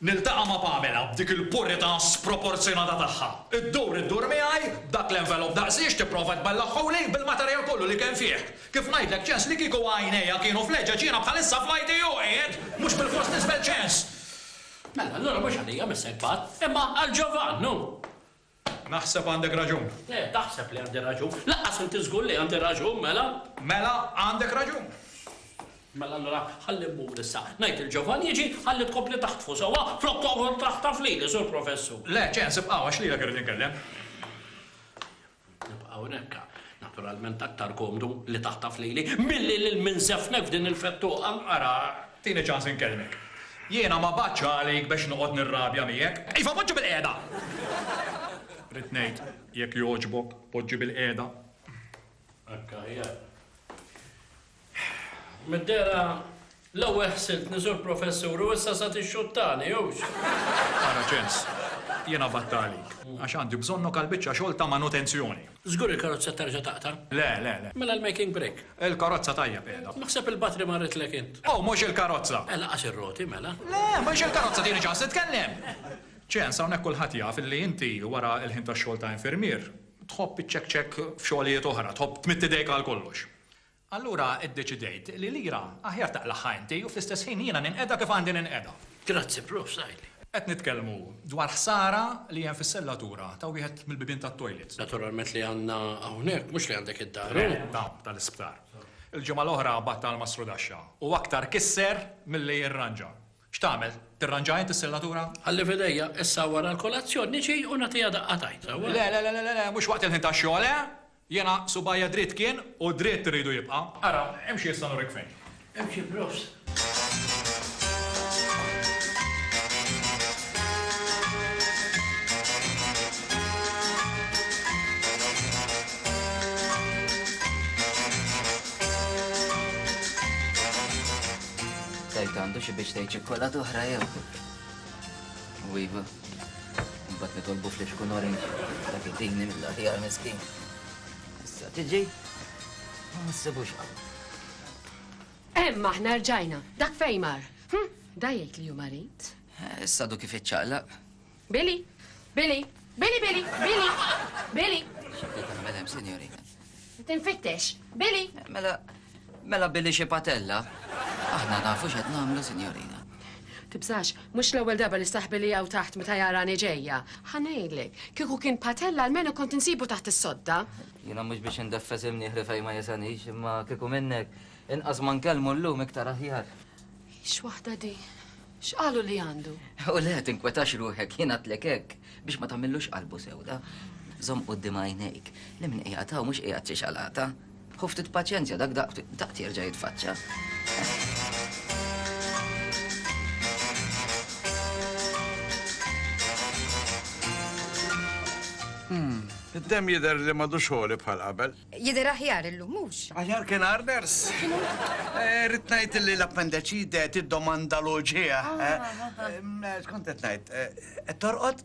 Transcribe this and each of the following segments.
Niltaqa' ma' Pamela b'dik il-purità sproporzjonata tagħha. Iddur iddur miegħi b'dak l-envelop daqsiex tipprova tbellaħħuli bil-materjal kollu li kemm fih. Kif ngħidlek ċens li kieku għajnejha kienu f'leġeġ jiena bħalissa fl-ITU qiegħed, mhux bilfors nisbel ċens. Mela allura mhux għalija missek b'għadd, imma għal Ġovann, hu! Naħseb għandek raġun. Le, taħseb li għandi raġun. Lanqas inti żgur li għandi raġun, mela? Mela, għandek raġun. Mela allura ħalli mmur issa. Ngħid il-ġovan jiġi ħalli tkompli taħtfu sewwa flok toqgħod taħtaf lili, Sur Professur. Le, ċens, ibqa' għax lilek irrid inkellem. Nibqa' hawnhekk. Naturalment aktar komdu li taħtaf lili milli lil min sefnek f'din il-fettuqa. Ara, Tini ċans inkellmek. Jiena ma bagħtx għalik bex noqgħod nirrabja miegħek. Iva, poġġi bilqiegħda! Ridt ngħid, jekk jogħġbok, poġġi bilqiegħda. Hekk aħjar. Mid-dehra, l-ewwel ħsibt li sur professur u issa sa tixxuttani, hux? Ara ċens, jiena battalik, għax għandi bżonnok għall-biċċa xogħol ta' manutenzjoni. Żgur il-karozza terġa' taqta'? Le, le, le. Mela l-making brake? Il-karozza tajjeb qiegħda. Naħseb il-batri marritlek int. Oh, mhux il-karozza! Eh, lanqas ir-roti, mela. Le, mhux il-karozza, tini ċans nitkellem! Ċens, hawnhekk kulħadd jaf illi inti, wara l-ħin tax-xogħol ta' infermier, tħobb iċċekċekk f'xogħlijiet oħra, tħobb tmidd idejk għal kollox. Allura iddeċidejt li lira aħjar taqlagħha inti u fl-istess ħin jiena ninqeda kif għandi ninqeda. Grazzi Prof. Saili. Qed nitkellmu dwar ħsara li hemm fis-sellatura ta' wieħed mill-bibien tat-toilet. Naturalment li għandna hawnhekk, mhux li għandek id-dar, hu? Le, dawn tal-isptar. Il-ġimgħa l-oħra battal ma' Srudaxxa u aktar kisser milli jirranġa. X'tagħmel? Tirranġaha int is-sellatura? Ħalli f'idejja, issa wara l-kolazzjon niġi u nagħtiha daqqa tajt, sewwa? Le, le, le, le, le, mhux waqt il-ħin tax-xogħol, eh! Jiena subajja dritt kien u dritt irridu jibqa'. Ara, imxi issa nurek fejn. Imxi prost. Tgħid għandu xi biex tgħid ċikkulata oħra jew? U iva, mbagħad nitolbu f'li xkun orange, dak id-dini mill-aħjar miskin. Issa tiġi, ma nsibux qawl. Hemm aħna rġajna, dak fejn mar. Hm, da jgħid li hu marid. Eh, issa du kif iċċaqlaq. Billy, Billy, Billy, Billy, Billy, Billy. X'qed tagħmel hemm, sinjorina? Tinfittex. Billy! Mela, mela Billy xi patella. Aħna nafu x'qed nagħmlu, sinjorina. Tibżax, mhux l-ewwel darba li saħbi li hawn taħt meta jarani ġejja. Ħanejlek, kieku kien patella almenu kont insibu taħt is-sodda. Jiena mhux biex indeffes imnieħri fejn ma jesanix, imma kieku minnek, inqas ma nkellmu llum iktar aħjar. Ix waħda di. X'qalu li għandu? U le, tinkwetax ruħek, jien għatlek hekk, biex ma tagħmillux qalbu sewda. Żomm quddiem għajnejk, li min qiegħed hawn mhux qiegħed xi xalata. Ħu ftit paċenzja dak daqt jerġa' jitfaċċa. Hmm, id-demm jidher li m'għadux ħoli bħal qabel. Jidher aħjar illum, mhux? Aħjar kien Arders? X'inhu? Rrid ngħid illi l-appendeċite tiddomanda l-uġigħ. X'kont qed ngħid? Qed torqod?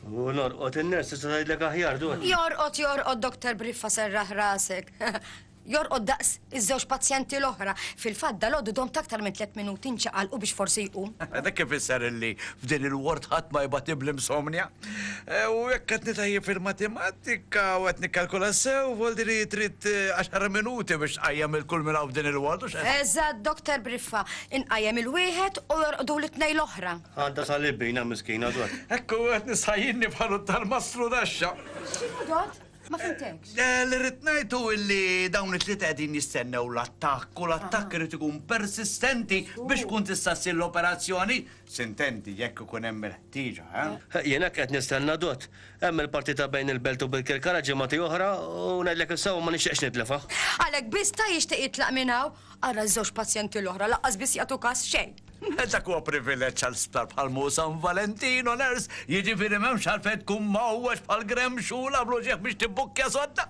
U norqod in-ners tista' tgħidlek aħjar dwar. Jorqod, jorqod, Doktor Briffa serraħ rasek. Jorqod daqs iż-żewġ pazjenti l-oħra. Fil-fatt dal-għodu dom taktar minn tliet minuti nċaqalqu biex forsi jqum. Dak kif isser illi f'din il-ward ħadd ma jibgħat ibl-insomnia? U jekk qed nitajjeb fil-matematika u qed nikkalkula sew, voldi li trid 10 eh, minuti biex tqajjem il-kull minn hawn din il-ward u x'qed. Eżatt, Doktor Briffa, inqajjem il-wieħed u jorqdu l-itnej l-oħra. Għadda tal-ibbina miskina dwar. Ekku qed nisħajjinni bħalu tal-maslu daxxa. X'inhu dot? Ma fimtekx. Eh, li rrid ngħidu illi dawn it-tliet qegħdin jistennew l-attakk u l-attakk irid ikun persistenti biex kun tista' ssir l-operazzjoni. Sintenti jekk ikun hemm il-ħtieġa, eh? Jien hekk qed nistenna Dott. Hemm il-partita bejn il-Belt u Birkirkara ġimgħatej oħra u ngħidlek is-sewwa ma nixtieqx nitlifha. Għalhekk biss ta' jixtieq jitlaq minn hawn? Ara ż-żewġ pazjenti l-oħra laqqas biss jagħtu każ xejn. Dak huwa privileġġ għal sptar bħal Mo San Valentino, nurse, jiġifieri m'hemmx għalfejn tkun mgħowweġ bħal Graham Shula bl-uġigħ biex tibbukkja sodda.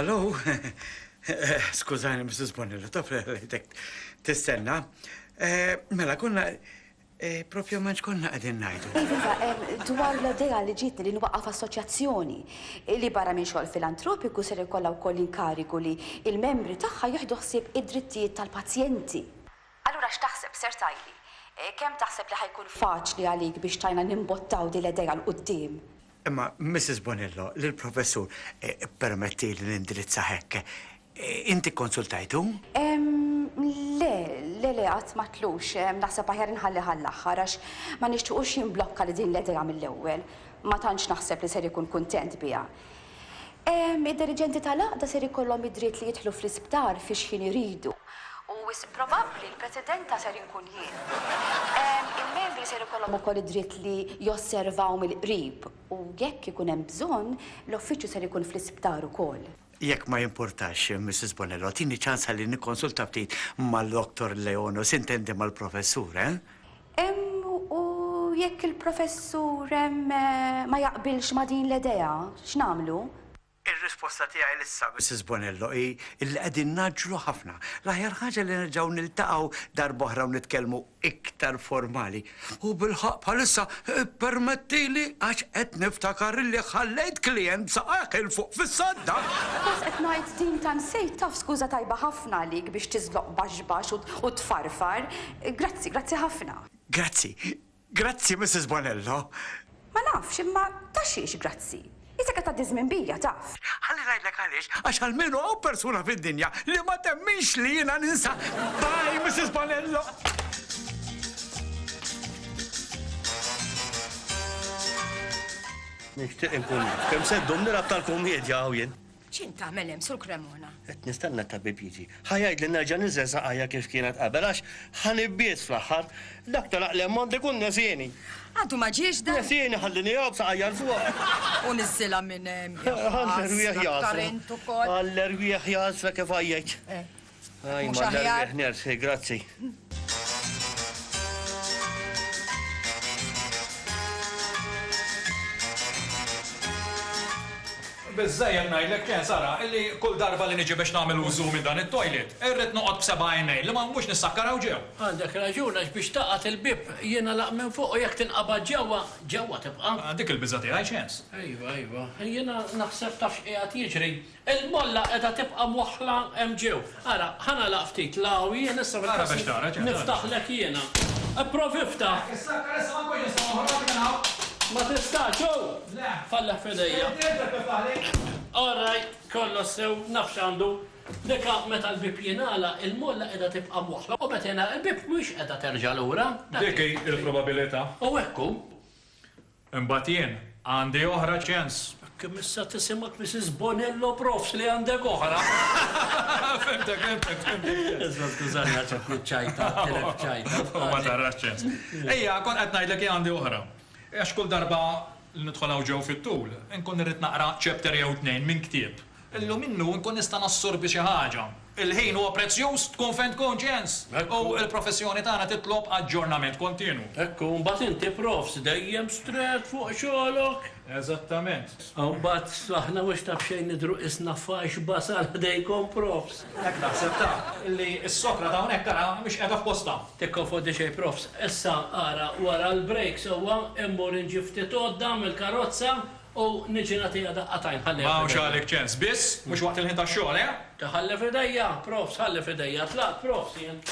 Hello. Skużani, Mrs. Bonilla, taf li għalajtek tistenna. Eh, mela, konna eh, propju manċ konna għadin najdu. Iva, dwar l-idea li ġitni li nwaqaf assoċjazzjoni li barra minn xogħol filantropiku ser ikollha wkoll inkarigu li il-membri tagħha jieħdu ħsieb id-drittijiet tal-pazjenti. Allura x'taħseb, ser tgħidli? Kemm taħseb li ħa jkun faċli għalik biex tgħinna nimbottaw din l-idea 'l quddiem? Imma, Missis Bonello, lill-Professur ippermettili nindirizzah hekk, inti kkonsultajtu? Le, le, le, qatt m'għadtlux. Naħseb aħjar inħallih għall-aħħar, għax ma nixtiequx jimblokka li din l-idea mill-ewwel. Ma tantx naħseb li ser ikun kuntent biha. Id-diriġenti tal-Għaqda ser ikollhom id-dritt li jidħlu fl-isptar fix-xħin iridu u wisq probabbli l-Presidenta ser inkun jien. Il-membri ser ikollhom ukoll id-dritt li josservaw mill-qrib u jekk ikun hemm bżonn, l-Uffiċċju ser ikun fl-isptar ukoll. Jekk ma jimpurtax, Missis Bonello, agħtini ċans ħalli nikkonsulta ftit mal-Doktor Leon u sintendi mal-Professur, eh? Hemm u jekk il-professur hemm ma jaqbilx ma' din l-edea, x'nagħmlu? Ir-risposta tiegħi lissa, Missis Bonello, hi illi qegħdin ngħaġġlu ħafna. L-aħjar ħaġa li nerġgħu niltaqgħu darb'oħra u nitkellmu iktar formali. U bilħaqq bħalissa ippermettili għax qed niftakar illi ħallejt klijent saqajh 'il fuq fis-sadda! Suppost qed ngħid din ta' nsejt taf skuża tajba ħafna għalik biex tiżloq baxbax u tfarfar, Grazzi, grazzi ħafna. Grazzi, grazzi Missis Bonello. Ma nafx, imma ta' xiex grazzi? Isek qed tgħaddi ż-żmien bija, taf. Ħalli ngħidlek għaliex, għax almenu hawn persuna fid-dinja li ma temminx li jiena ninsa. Bye, Missis Bonello. Nixtieq inkun naf kemm se ddum nilgħab tal-kummiedja hawn jien. X'int tagħmel hemm, Sur Cremona? Qed nistenna t-tabib jiġi. Ħa jgħidli nerġa' niżel saqajja kif kienet qabel għax ħa nibbies fl-aħħar. Dak tal-għaqli ammont ikun nesieni. Għadu ma ġiex dan? Nesieni ħalli nieqgħu b'saqajja 'l fuq. U niżżilha minn hemm. Ħa l-erwieħ jagħżla. Int ukoll. Ħa l-erwieħ jagħżla kif għajjajt. Mhux aħjar. Grazzi. Biżżejjed ngħidlek Ken Sara illi kull darba li niġi biex nagħmel użu minn dan it-toilet, irrid noqgħod b'seba' għajnejn li ma nmux nissakkar hawn ġew. Għandek raġun għax biex tagħqad il-bieb jingħalaq minn fuq u jekk tinqabad ġewwa, ġewwa tibqa'. Dik il-biża' tiegħi x'sens? Iva, iva. Jiena naħseb taf x'qiegħed jiġri? Il-molla qiegħda tibqa' mwaħħla hemm ġew. Ara, ħa nagħlaq ftit l-għawi jien issa fil-każ niftaħlek jiena. Ipprovi iftaħ. Ma tistax u! Falleħ f'idejja. Orrajt, kollox sew, naf x'għandu. Dika meta l-bieb jingħalaq, il-molla qiegħda tibqa' mwaħħla u meta jingħalaq il-bieb mhix qiegħda terġa' lura. Dik hi l-probabilità. U hekk hu. Imbagħad jien, għandi oħra ċens. Kemm issa tisimgħek Misis Bonello Profs li għandek oħra! Fhimtek, fhimtek, fhimtek. Isma' skużani għax hekk niċċajta, tilef ċajta. U ma tarax ċens. Ejja, kont qed ngħidlek hi għandi oħra. Għax kull darba li nidħol hawn ġew fit-tul, inkun irrid naqra chapter jew tnejn minn ktieb. Illum minnu nkun nista' nassorbi xi ħaġa. Il-ħin huwa prezzjuż, tkun fejn tkun, Jens! U l-professjoni tagħna titlob aġġornament kontinwu. Hekk hu, mbagħad inti profs dejjem strett fuq xogħlok. Eżattament. U mbagħad aħna mhux ta' b'xejn nidhru qisna faxx basal ħdejkom profs. Hekk naħseb taf, li s-sokra ta' hawnhekk ara mhix qiegħda f'postha. Tikkonfondi xejn profs. Issa ara wara l-break sewwa immur inġib ftit għodda mill-karozza U niġi nagħtiha daqqa t'għajn, ħallejha f'idejja. M'hawnx għalik ċens. Biss, mhux waqt il-ħin tax-xogħol, eh! Ta' ħallha f'idejja, profs, ħallha f'idejja. Tlaqt, profs, jien.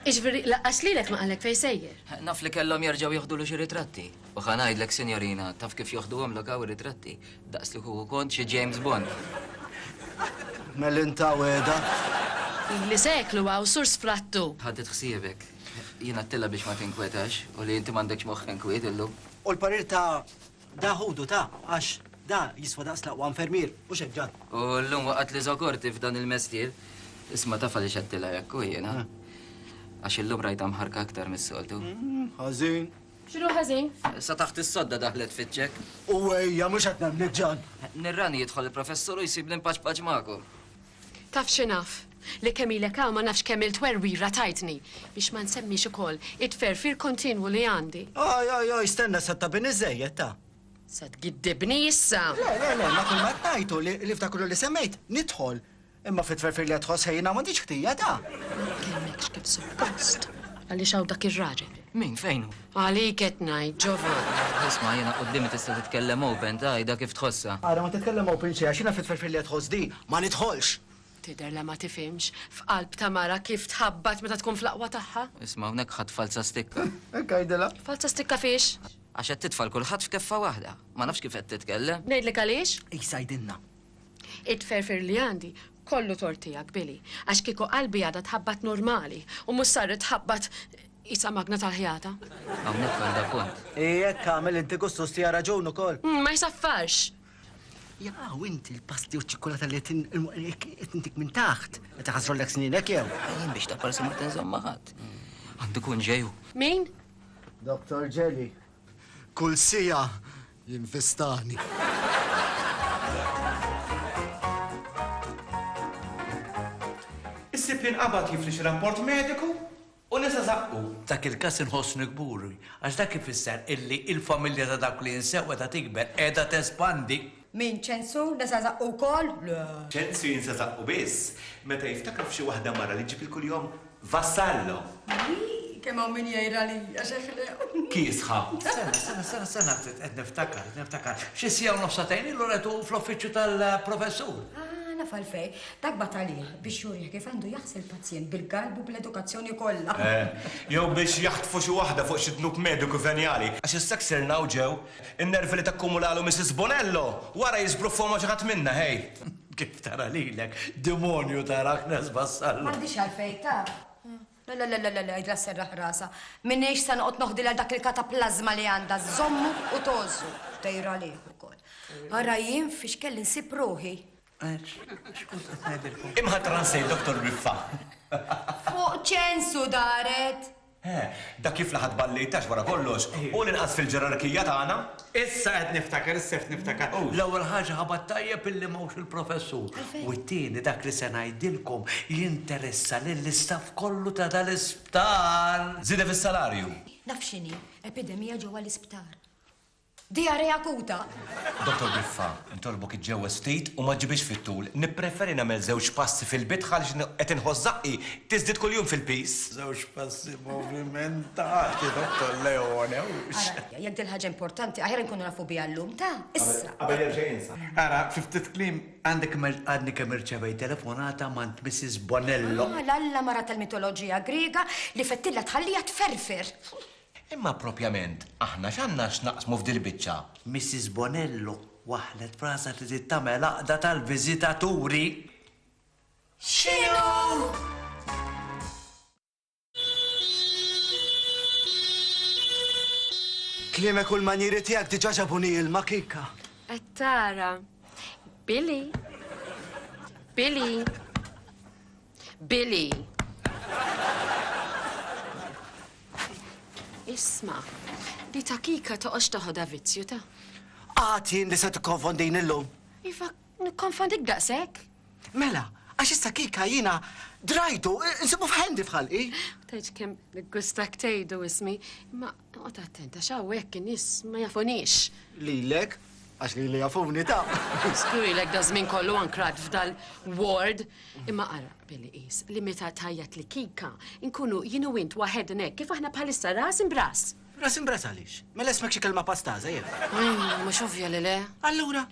Jiġifieri, laqqas lilek ma qallek fejn sejjer? Naf li kellhom jerġgħu jieħdulu xi ritratti. U ħa ngħidlek, sinjorina, taf kif joħduhomlok hawn ir-ritratti? Daqs li kieku kont xi James Bond. Mel inta wegħda? Ili seklu hawn, Sur Sfrattu. Ħadiet ħsiebek. Jien għadtilha biex ma tinkwetax u li inti m'għandekx moħħ inkwiet illum. U l-parir ta' da ħudu ta' għax da jiswa daqs l-aqwa infermier, mhux hekk Ġan? U llum waqgħatli żokorti f'dan il-mestier. Isma' taf għaliex għadtilha hekk hu jiena? Għax illum rajtha mħarrka aktar mis-soltu. Ħażin. X'inhu ħażin? Sa taħt is-sodda daħlet fiċ-ċekk. U ejja, mhux qed nemmnek Ġan! Nirrani jidħol il-professur u jsibni mpaċpaċ magħkom. Taf xi naf? Li kemm ilek hawn ma nafx kemm-il twerwira tajtni, biex ma nsemmix ukoll it-tferfir kontinwu li għandi. Oj, oj, oj, stenna sa ttabini żżejjed, ta. Se tgiddibni issa! Le, le, le, ma kull ma qed ngħid hu li f'dak kollu li semmejt, nidħol. Imma fit-tferfir li qed tħoss ħejjin hawn m'għandix ħtija, ta. Ma tkellmekx kif suppost, għaliex hawn dak ir-raġel. Min, fejn hu? Għalik qed ngħid Giovanna. Isma' jiena quddiemi tista' titkellem open, tgħidha kif tħossha. Ara ma titkellem open xejn għax jiena fit-tferfir li qed tħoss di ma nidħolx! Tidher li ma tifhimx f'qalb ta' mara kif tħabbat meta tkun fl-aqwa tagħha. Isma' hawnhekk ħadt falza stikka. Hekk għidilha. Falza stikka fiex? Għax qed titfa' 'l kulħadd f'keffa waħda. Ma nafx kif qed titkellem. Ngħidlek għaliex? Qis għidilna. It-tferfir li għandi Kollu tort tiegħek, Billy, għax kieku qalbi għadha tħabbat normali u mhux saret tħabbat qisha magna tal-ħjata. Hawnhekk għandha punt. Hi hekk għamel inti Gustus tiha raġun ukoll. Hm, ma jsaffarx! Jaqaw u inti l-pasti u ċ-ċikkulata li qed intik minn taħt, qed iħassrulek sninek jew? Jien biex taqbal se ma tinżomm ma' ħadd. Għandu kun ġej hu. Min? Doktor Ġeli. Kull siegħa Jinfestani. Issib li nqabad jifli xi rapport mediku u nisa żaqqu. F'dak il-każ inħossni kburi għax dak ifisser illi l-familja ta' dawk li jinsew qiegħda tikber, qiegħda tespandi. Min, Ċensu, nisa żaqqu wkoll? Le. Ċensu jinsa żaqqu biss meta jiftakar f'xi waħda mara li ġġib il-kuljom Vassallo! Ii, kemm hawn min jgħidha li hija xi ħlew! Kiesħa! Sena, sena, sena, sena ftit, qed niftakar, qed niftakar. Xi siegħa u nofs sagħtejn ilu retu fl-uffiċċju tal-professur. Ah, naf għalfejn. Dak bagħat għalih biex jurih kif għandu jaħsi l-pazjent bil-galbu u bl-edukazzjoni kollha. Eh, jew biex jaħtfu xi waħda fuq xi dnub mediku venjali. Għax issa ksirna u ġew in-nervi li takkumulalu Missis Bonello! Wara jiżbruffuha ma' xi ħadd minna, ħej! Kif tara lilek, demonju ta' rakna żbassalla! M'għandix għalfejn taf. Le, le, le, le, għidla sserraħ rasha. M'iniex se noqgħod noħdilha dak il-kataplażma li għandha, żżommu u tgħożżu. Tgħir għalih ukoll. Ara jien fiex kelli nsib ruħi. Imħatra nsejt Dottor Riffa. Fuq ċensu daret! Eħe, dak li fl-aħħar tball li jtax wara kollox hu l-inqas fil-ġerarkija tagħna. Issa qed niftakar, issa qed niftakar. L-ewwel ħaġa ħabat tajjeb illi m'hawnx il-Professur. U t-tieni dak li se ngħidilkom jinteressa lill-istaff kollu ta' dal-isptar. Żieda fis-salarju. Naf x'inhi, epidemija ġewwa l-isptar. Diarrhea akuta. Dottor Griffa, nitolbok iġġewweż ftit u ma ġġibhiex fit-tul. Nippreferi nagħmel żewġ passi fil-bidħ għaliex qed inħoss żaqqi tiżdied kuljum fil-piż. Żewġ passi movimentati, Dottor Leone, hux? Ara, jekk din ħaġa importanti, aħjar inkunu nafu biha llum, ta? Issa. Qabel hemm xejn insa. Ara, fi ftit kliem, għandek għadni kemm irċevejt telefonata m'għand Mrs. Bonello. Għal Alla mara tal-mitoloġija Griega li fettilha tħalliha tferfer. Imma propjament aħna x'għandna x'naqsmu f'dil-biċċa? Missis Bonello waħħlet f'rasha trid tagħmel għaqda tal-viżitaturi. X'inhu? Kliemek u l-manjieri tiegħek diġà ġabuni ilma, Kika. Qed tara. Billy. Billy. Billy. Isma', di ta' Kika toqgħodx taħodha vizzju ta'. Għad jien li se tikkonfondini llum. Iva, nikkonfondik daqshekk? Mela, għax issa Kika jiena drajtu, insibu f'ħendi f'ħalqi. Tgħidx kemm niggustak tgħidu ismi, imma Noqgħod attent għax hawnhekk in-nies ma jafunix. Lilek, għax lili jafuni ta'. Skrujlek da żmien kollu ankrat f'dal ward. Imma ara, billi qis li meta tajjat li kika, nkunu jien u int waħednek kif aħna bħalissa ras imbras. Ras imbras għaliex? Mela ismek xi kelma pastaża jew? Mhux ovvja li le. Allura?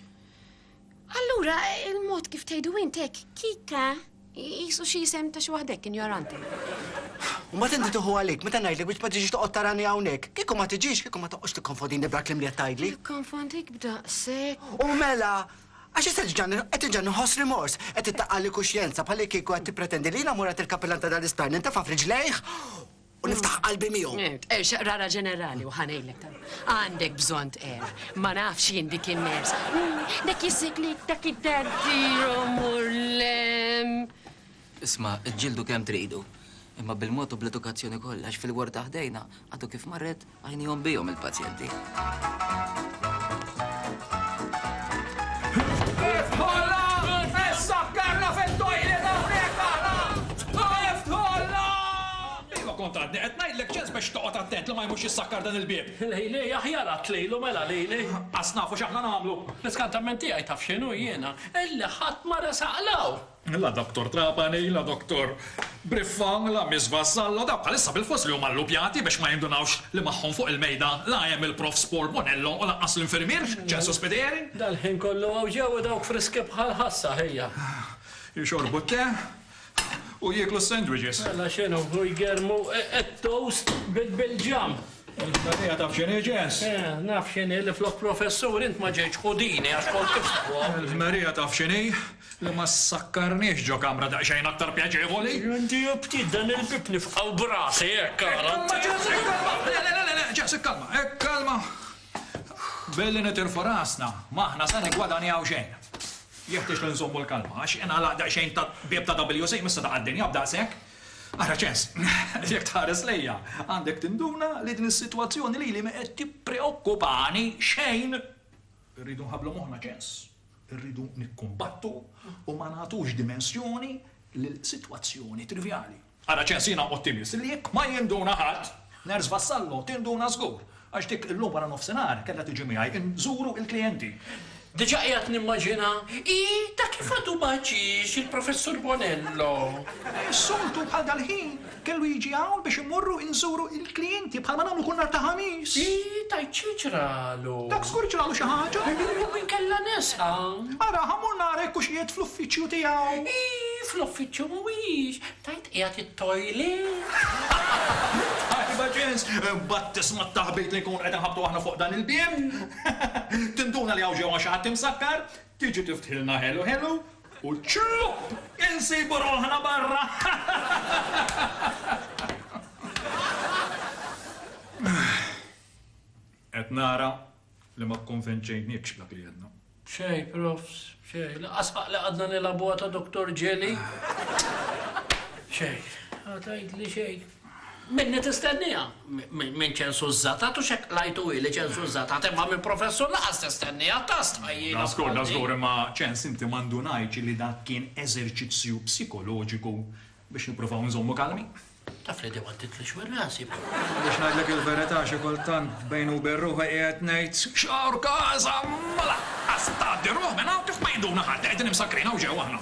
Allura, il-mod kif tgħidu int hekk, Kika, qisu xi isem ta' xi waħda hekk injoranti. U mbagħad inti tieħu għalik meta ngħidlek biex ma tiġix toqgħod tarani hawnhekk. Kieku ma tiġix, kieku ma toqgħodx tikkonfondini b'dal-kliem li qed tgħidli. Nikkonfondik b'daqshekk? U mela! Għax issa diġà qed diġà nħoss rimors, qed ittaqqagħli kuxjenza bħallikieku qed tippretendi li jiena mur għand il-kappillan ta' dal-isptar nintefa' f'riġlejh! u niftaħ qalbi miegħu. Eh, Tqerxaq rara ġenerali u ħanejlek ta' għandek bżonn tqer. Ma nafx jien dik in-ners. Mm, dak jisiklik dak id-dardiru murlem. Isma, ġildu kemm tridu. Imma bil-mod u bl-edukazzjoni kollha, għax fil-ward ta' ħdejna għadu kif marret Għajnihom bihom il-pazjenti. kont għadni qed ngħidlek ċens biex toqgħod attent li ma jmux jissakkar dan il-bieb. Lejli, aħjar għad lejlu mela lejli. Qas nafu x'aħna nagħmlu. L-iskantament tiegħi taf x'inhu jiena? Illi ħadd ma resaq law. La Doctor Trapani, la Doctor Briffa, la Miss Vassallo, dawk bħalissa bilfors li huma llupjati biex ma jindunawx li magħhom fuq il-mejda la hemm il-Prof Sport Bonello u lanqas l-infirmier Ġesù Spiteri. Dal-ħin kollu hawn ġew u dawk friski bħall-ħassa, ħija. Jixorbu t-te u jieklu s-sandwiches. Mela x'inhu, hu jgermu t-toast bil-ġam. Il-ħdalija taf x'inhi, Ġes? Eh, naf x'inhi li flok professur int ma ġejtx ħudini għax kont tiftaħhom. Il-ħdalija taf x'inhi? Li ma ssakkarniex ġo kamra daqsxejn aktar pjaċevoli. Għandi ftit dan il-bieb nifqgħu b'rasi, hekk ara. Ikkalma Ġeż, ikkalma! Le, le, le, le, Ġeż, ikkalma, ikkalma! Billi nitirfu rasna, m'aħna se niggwadanjaw xejn. Jeħtieġ li nżommu l-kalma, għax ingħalaq daqsxejn bieb ta' WC, m'issa taqa' d-dinja b'daqshekk. Ara Ġeż, jekk tħares lejja, għandek tinduna li din is-sitwazzjoni lili ma qed tippreokkupani xejn. Irridu nħabblu moħħna, Ġeż. Irridu nikkumbattu u ma nagħtux dimensjoni lil sitwazzjoni trivjali. Ara ċensina Ottimist li jekk ma jinduna ħadd, Nurse Vassallo tinduna żgur, għax dik illum waranofsinhar kellha tiġi miegħi inżuru l-klijenti. Diġà qiegħed nimmaġina hi ta' kif għadu ma ġiex il-Professur Bonello. Is-soltu bħal dal-ħin Kellu jiġi hawn biex immorru inżuru l-klijenti bħalma nagħmlu kull nhar ta' Ħamis. Hi, tgħid xi ġralu? Dak żgur ġralu xi ħaġa. Jew inkella nesqa. Ara, ħa mmur nara jekk hux qiegħed fl-uffiċċju tiegħu. Hi, fl-uffiċċju mhuwiex. Tgħid qiegħed it-toilet. Tajba ġens, imbagħad tisma' t-taħbit li nkunu qed inħabbtu aħna fuq dan il-bieb. Tinduna li hawn ġewwa xi ħadd imsakkar, tiġi tifthilna ħelu ħelu U ċlupp! Insibu ruħna barra! Qed nara li ma kkonvenċejniekx b'dak li għedna. B'xejn, Profs, b'xejn. Lanqas ħaqli qgħadna nilgħabuha ta' Dottor Ġeli. Xejn. Ma tgħidli xejn. Minni tistenniha? Minn Ċensużża? Tatu x'hekk qlajtu hi li Ċensużża tat, imma minn Professur Naqas tistenniha, ta' stħajjila bħal din! Da żgur, imma Ċens inti ma ndunajtx li dak kien eżerċizzju psikoloġiku biex nippruvaw inżommu kalmi? Taf li dewwa titlix minn rasi! Biex ngħidlek il-verità xi kultant bejni u bejn ruħi qiegħed ngħid, X'għawr każa! Ma laqqas tgħaddi ruħ minn hawn kif ma jinduna ħadd li qegħdin imsakkrin hawn ġewwa aħna!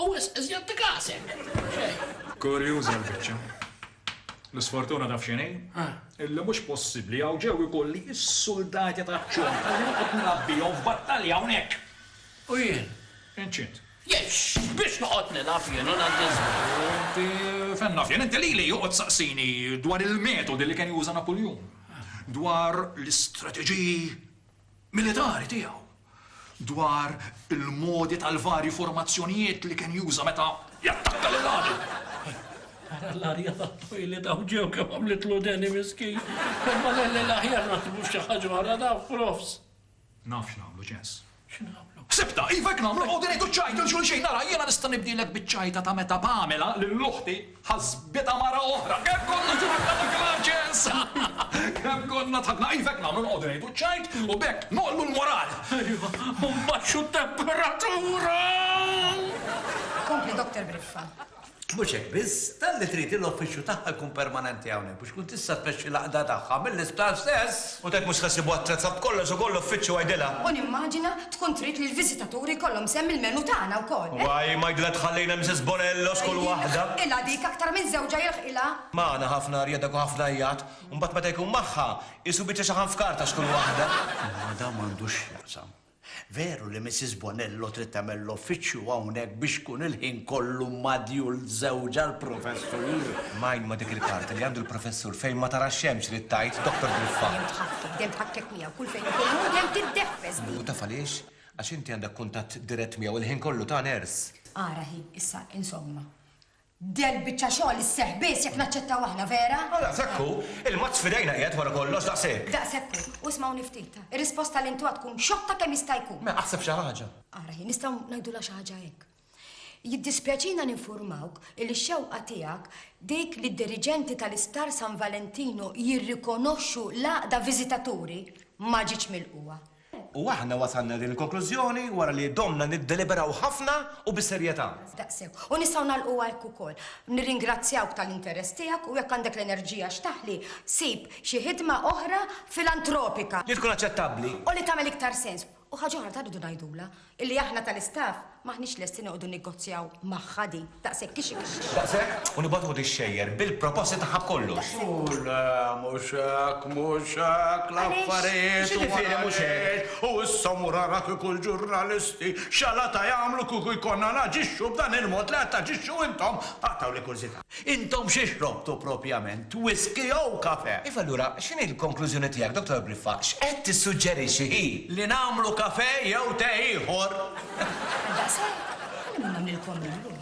U wisq iżjed tikas hekk! Kurjuża l-biċċa. L-isfortuna taf x'inhi? Illi mhux possibbli hawn ġew ikolli s-suldati taċ-ċomb li noqgħod nrabbihom f'battalja hawnhekk! U jien? Inċint. Jien x'biex noqgħod nilgħab jien u ngħaddi ż-żmien? U inti fejn naf jien? Inti lili joqgħod saqsini dwar il-metodi li kien juża Napuljun, dwar l-istrateġiji militari tiegħu. dwar il-modi tal-varji formazzjonijiet li kien juża meta jattakka lil għadu. Ara l-arja tat-toilet hawn ġew kemm għamlitlu deni miskin. Imma lelle l-aħjar naħdmu f'xi ħaġa oħra naf, profs. Naf x'nagħmlu, Ċens. X'nagħmlu? Ħsibtha, iva hekk nagħmlu, noqogħdu ngħidu ċ-ċajt lil xulxin. Ara, jiena nista' nibdilek biċ-ċajta ta' meta Pamela, lil uħti, Ħasbitha mara oħra. Kemm konna tlaqna dak l-aċċess! Kemm konna dħakna iva hekk nagħmlu noqogħdu ngħidu ċ-ċajt u b'hekk nogħllu l-moral. Iva, u nbaxxu t-temperatura! Kompli Doktor Briffa. Mhux hekk biss, talli trid li l-uffiċċju tagħha jkun permanenti hawnhekk. Tkun tista' tmexxi l-għaqda tagħha mill-isptar stess. U t'hekk mhux se ssibha attrezza b'kollox ukoll l-uffiċċju għidilha. U nimmaġina tkun trid li l-viżitaturi jkollhom sehem mill-menu tagħna wkoll, eh? Why, ma jidhirlha tħallina Mrs. Bonello x'kull waħda. Hi jilħqilha dik aktar minn żewġha jilħqilha. Magħna ħafna rjedek u ħafna jgħat, u mbagħad meta jkun magħha, qisu biċċa xaħam f'karta x'kull waħda. Imma dan m'għandux x'jaqsam. Veru li Missis Bonello trid tagħmel l-uffiċċju hawnhekk biex tkun il-ħin kollu ma' djul żewġha l-Professur? Mgħin ma' dik il-karta li għandu l-Professur fejn ma tarax xemx trid tgħid, Doktor Griffard. Tħaffef, dejjem tħakkek miegħu kull fejn ikun hu dejjem tiddeffes bih. U taf għaliex? Għax inti għandek kuntatt dirett miegħu l-ħin kollu ta' ners. Ara hi, issa, insomma. Del biċċa xogħol isseħħ biss jekk naċċettaw aħna, vera? Ah, daqshekk hu! Il-mazz f'idejna qiegħed wara kollox, daqshekk! Daqshekk hu! U smgħuni ftit, ir-risposta li ntuha tkun xotta kemm jista' jkun! Mela aħseb xi ħaġa! Ara hi, nistgħu ngħidulha xi ħaġa hekk. Jiddispjaċina ninfurmawk li x-xewqa tiegħek dik li d-diriġenti tal-Isptar San Valentinu jirrikonoxxu l-għaqda viżitaturi ma ġietx milqugħa. U aħna wasalna din il-konklużjoni wara li domna niddeliberaw ħafna u bis-serjetà. Daqshekk. U nistgħu nagħlqu għalik ukoll. Nirringrazzjawk tal-interess tiegħek u jekk għandek l-enerġija x'taħli, sib xi ħidma oħra filantropika. Li tkun aċċettabbli. U li tagħmel iktar sens. U ħaġa oħra ta' rridu ngħidulha, Illi aħna tal-istaff m'aħniex lesti noqogħdu negozjaw magħha din, daqshekk hi xi kixkix. Daqshekk, u nibgħatuha tixxejjer bil-proposti tagħha b'kollox. Hu le, mhux hekk, mhux hekk l-affarijiet. Għaliex? X'jiġifieri mhux hekk? U issa mur ara kieku l-ġurnalisti x'għalata jagħmlu kieku jkollna naġixxu b'dan il-mod li qed taġixxu intom. Aqtgħu li kurżità. Intom xi xrobtu propjament, whiskey jew kafè? Iva allura x'inhi l-konklużjoni tiegħek, Dottor Briffa? X'qed tissuġġerixxi hi? Li nagħmlu kafè jew te ieħor. Għal daqshekk, ħalluni nagħmlilkom illum.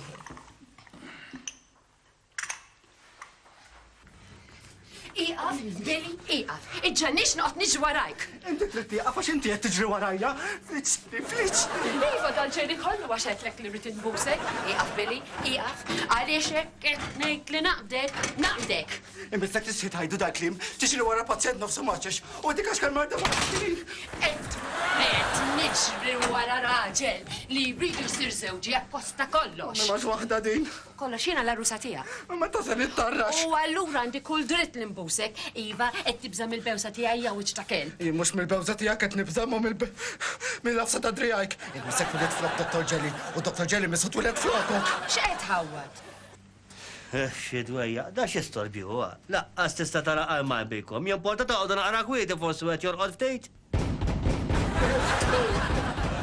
Ieqaf, Billy, ieqaf. Iġġenniex noqgħod niġri warajk. Inti trid tieqaf għax inti qed tiġri warajja. Fliċċni, fliċċni. Iva dan ġejni kollu għax għedtlek li rrid inbusek. Ieqaf, Billy, ieqaf. Għaliex hekk qed ngħid li naqbdek, naqbdek. Inbidlek tistħi tgħidu dal-kliem, tiġri wara pazjent nofsu maċċex u dik għax marda ma' Qed qed niġri wara raġel li jridu jsir żewġi apposta kollox. Ma waħda din. B'kollox jiena l-għarrusa tiegħek. U meta se nittarrax? U allura għandi kull dritt li nbusek. Iva, qed tibża' mill-bewża tiegħi ja wiċċ ta' kelb? Jien mhux mill-bewża tiegħek qed nibża' imma mill-għafsa ta' driegħajk. Ilbisek wlied flok Dottor Ġeli u Dottor Ġeli missu twiled flokok. X'qed tħawwad? Eħ, xi dwejjaq. Da xi storbju huwa? Laqqas tista' tara qalma jbikom. Jimporta toqogħdu naqra kwieti forsi wieħed jorqod ftit?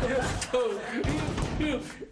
Iftħu! Iftħu!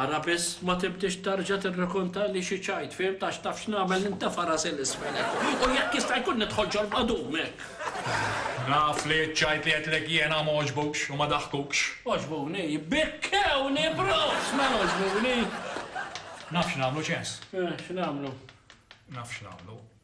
Ara biss, ma tibdiex terġa' tirrakontali xi ċajt, fhimt, għax taf x'nagħmel nintefa' rasi 'l isfel hekk, u jekk jista' jkun nidħol ġol-qadum hekk. Naf li ċ-ċajt li għedtlek jiena m'għoġbux u ma daħkux. Għoġbuni, bikkewni proffs, mela għoġbuni. Naf x'nagħmlu, Ċens. Eh, x'nagħmlu? Naf x'nagħmlu.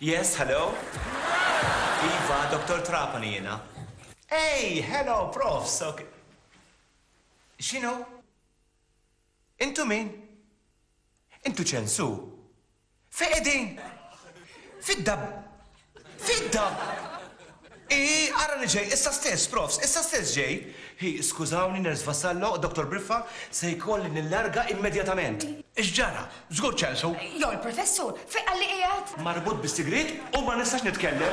Yes, hello? Iva, Doktor Trapani jiena. Ej, hello, Prof, sok. X'inhu? Intu min? Intu ċensu? Fejn qegħdin? Fid-da. Fid-da! Hi, ara li ġej, issa stess, profs, issa stess ġej. Hi, skużawni, Nurse Vassallo, Doctor Briffa, se jkolli nillarga immedjatament. X'ġara? Żgur ċelsu? Jew il-Professur, fejn qalli qiegħed? Marbut bis-sigriet u ma nistax nitkellem.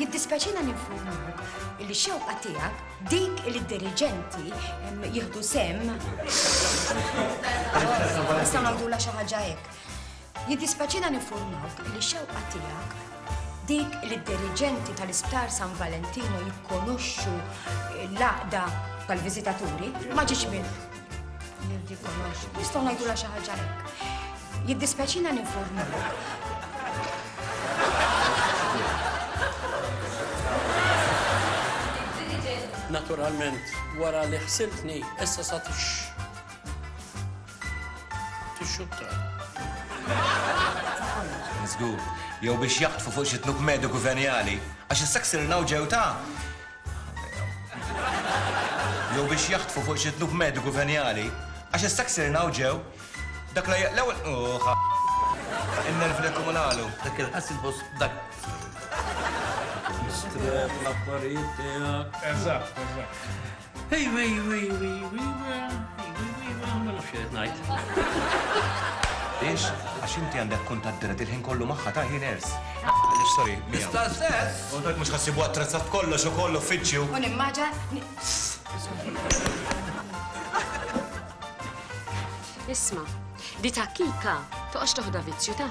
Jiddispjaċina ninfurmuk illi xewqa tiegħek dik li d-diriġenti jieħdu sem. Nistgħu nagħmlula xi ħaġa hekk. Jiddispjaċina ninfurmuk illi xewqa tiegħek dik li d-diriġenti tal-Isptar San Valentino jikkonoxxu l-laqda tal-viżitaturi ma ġiex minn Nistgħu ngħidulha xi ħaġa hekk. Jiddispjaċina ninformu. Naturalment, wara li ħsiltni, issa sa tix. tixxutta. Zgur, jew biex jaħtfu fuq xi tluk mediku venjali, għax is-saksir nawġew ta' Jew biex jaħtfu fuq xi tnuk mediku venjali, għax issa ksirna u ġew. Dak la l-ewwel uħa. In-nervi li kumunalu. Dak il-ħassil fost dak. Stref l-affarijiet tiegħek. Eżatt, eżatt. Hej, hej, hej, hej, hej, ma nafx qed ngħid. Biex, għax inti għandek kuntatt dirett il-ħin kollu magħha ta' ħin ers. Sorry, miegħu. Sta stess, U l-belt mhux ħa ssibuha attrezzat b'kollox ukoll uffiċċju. U nimmaġa Isma', di ta' Kika toqgħodx toħda vizzju ta'.